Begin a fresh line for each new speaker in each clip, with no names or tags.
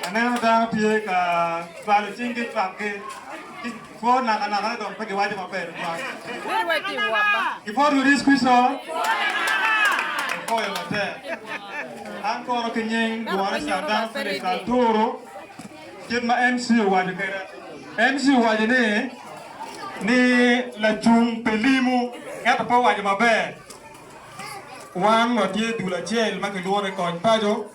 Aneno dano tye ka cwalo cinggi cwakgi ki kwo nakanaka dok pe giwaco maber tutwal. Gipwodo Yecu Kricito, gipoyo matek. An kono ki nying lworo Catan pi tic aturu kit ma MC owaco kwede. MC owaco ni ni lacung pi limu ento pe owaco maber. Wan watye dul acel ma kilwongo ni Kony Paco.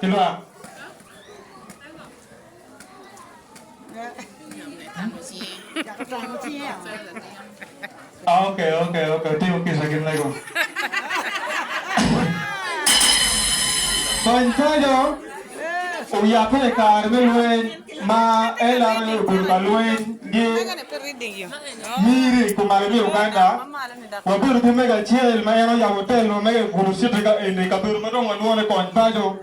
ki lwak. Ok ok ok otimo kica ki mego. Kony paco oyape i kare me lweny ma LRA obedo ka lweny gi miri kumalo me Uganda. Wabedo ki mego acel ma en oyabo otel wa mege i Gulu City ka eni, kabedo ma dong walwongo ni Kony Paco.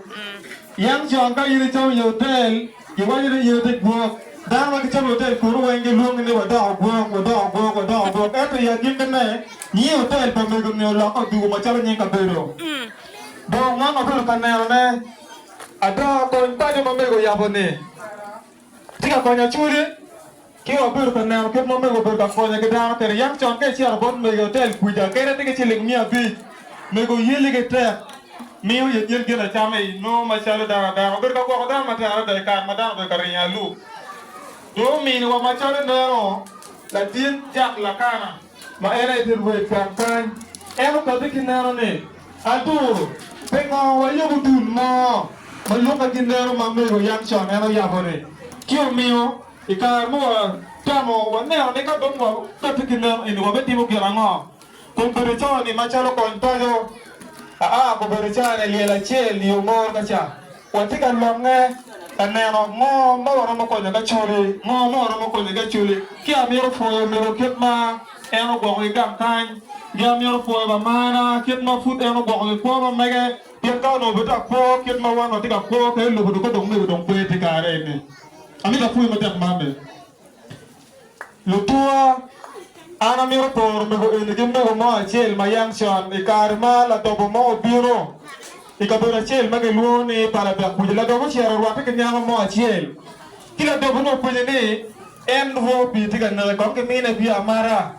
Yam con ka in icomo i otel, giwaco ni in iti gwok. Dano ma gicomo i otel kunu weng gilwongi ni wadoko gwok, wadoko gwok, wadoko gwok. Ento i agikkine, nying otel pa mego-ni olokke odugo macalo nying kabedo. Dong man wabedo ka nenone ada, Kony Paco ma mego oyabo-ni. Tye ka konyo Julie ki wabedo ka neno kit ma omego obedo ka konye ki dano kede. Yam con ka icito bot mego i otel kwica kede tye ki ciling miya abic, mego oyelli ki tek miyo yecel gin acama i nongo macalo dano adano. Obedo ka gwoko dano matek adada i kare ma dano obedo ka ringo alub. Dong ominiwa macalo ineno latin Jack Lakana. ma en aye te rwed gang kany. En okabbe ki neno ni, Aduru, pingo wayubo dul mo ma lukke ki neno ma mego yam con en oyabo-ni? Ci omiyo, i kare ma watemo waneno ni ka dong wakabbe ki neno eni wabitimo gin ango, kun bedo coni macalo kony paco, aa gubedo caa-ne lyel acel yo moro ka ca. Watye ka longe ka neno ngo ma waromo konyo ka culi, ngo ma waromo konyo ki aculi. Ki amito pwoyo omego kit ma en ogwoko ki gang kany. Ki amito pwoyo bamarna kit ma pud en ogwoko ki kwo ma mege. Pien ka onongo pe tye ka kwo kit ma wan watye ka kwo, ka elubo dong ka dong omego dong pe tye kare eni. Amito apwoyi matek man ni. Lutuwa, An amito poro mego eni ki mego mo acel ma yam con i kare ma ladobo mo obino i kabedo acel ma kilwongo ni Palabek kuca. Ladobo ocito orwatte ki nyako mo acel, ci ladobo-ni openye ni, 'En rwo opye tye ka neke kong kimine bia amata?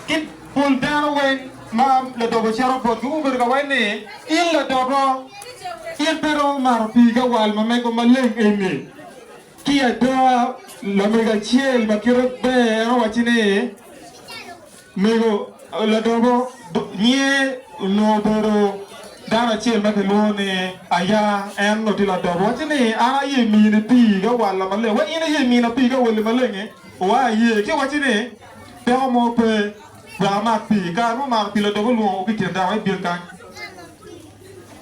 Ki pol dano weng ma ladobo ocito botgi gubedo ka waco ni, 'In ladobo, in pe iromo mato pii ki awal ma mego maleng eni? Ki ada, lamego acel ma kite ber en owacci ni, Mego Ladobo, nyiye onongo obedo dano acel ma kilwongo ni Aya. En onongo tye Ladobo. Owacci ni, An aye mini pii ka walla maleng. Wa in iye mina pii ka walli maleng-ngi? Wa aye. Ci owacci ni, Dako mo pe wek amat pii. I kare ma omato pii, Ladobo olwongo ki i kin dako, ibin kany.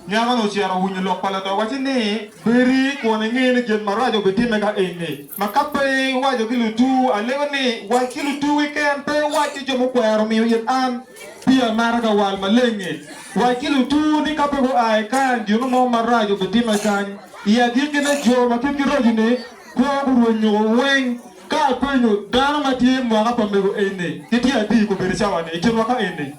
Nyako-nu ocito owinyo lok pa ladoc wacce ni, Bedi kun ingeyo ni gin maraco bitimme ka eni. Ma ka pe iwaco ki lutuwu, alego ni, wac ki lutuwu keken, pe iwac ki jo mukwero miyo it an, pii amaro ka wal maleng-ngi. Wac ki lutuwu ni ka pe gua i kany, gino mo marac obitimme kany. I agikkine, jo ma kitgi raco-ni kwo gurweny nyuko weng. Ka apenyo dano ma tye i mwaka pa mego eni, gitye adi i kobedo cawa-ni i kinwa ka eni?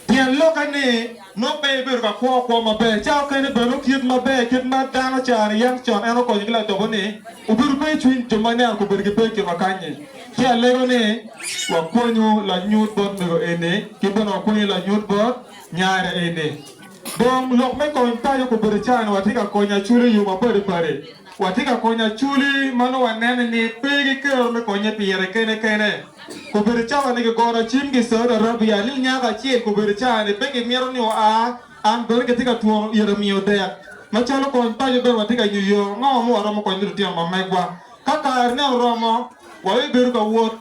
Pien lokke ni nongo pe ibedo ka kwo kwo maber, ca okene bene okit maber kit ma dano caro iye ento con en okonyo ki ladobo ni obedo pe icwiny jo ma ineno gubedo ki pe ikinwa kanyi. Ci alego ni wakwenyu lanyut bot mego eni ki bene wakwenyu lanyut bot nyare eni. Dong lok me kony paco gubedo cani watye ka konyo aculu iyo mapadi padi. Watye ka konyo Acholi ma nongo wanene ni pe gikero me konye pi yere kene kene. Obedo cawa ni gigono cimgi i Saudi Arabia ni nyako acel obedo cawa ni pe gimito ni oa. An bene kitye ka twongo ira miyo dek. Macalo kony paco bene watye ka nyo yo ango ma waromo konyo lutino ma megwa. Ka karene oromo, wabibedo ka wot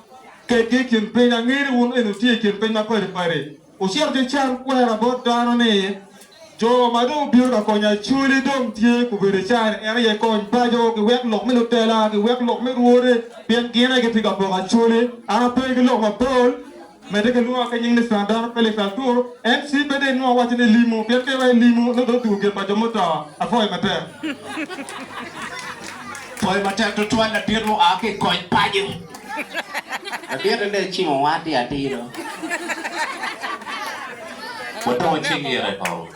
kedgi i kin piny. Angeyo ni wun eni wutye i kin piny ma padi padi. Ocito ki can kwena bot dano ni jo ma dong obino ka konyo Acholi dong tye gubedo i caa-ni, en aye kony paco, giwek lok me lutela, giwek lok me rwode, pien gin aye gitye ka poko Acholi. An ape ki lok mapol, medde kilwonga ki nying ni Sandar Felix Altur, en ci pe dong inwongo awaco ni limu, pien ka iwaco limu, nongo dong otugo gin pa jo muto. Apwoyi matek. Pwoyo matek tutwal ladit
mu a ki i kony paco. Labite dong ecimo watti atir oo. Wadong wacing ite kong.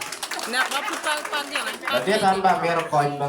Labite
an
bene amito kony ba.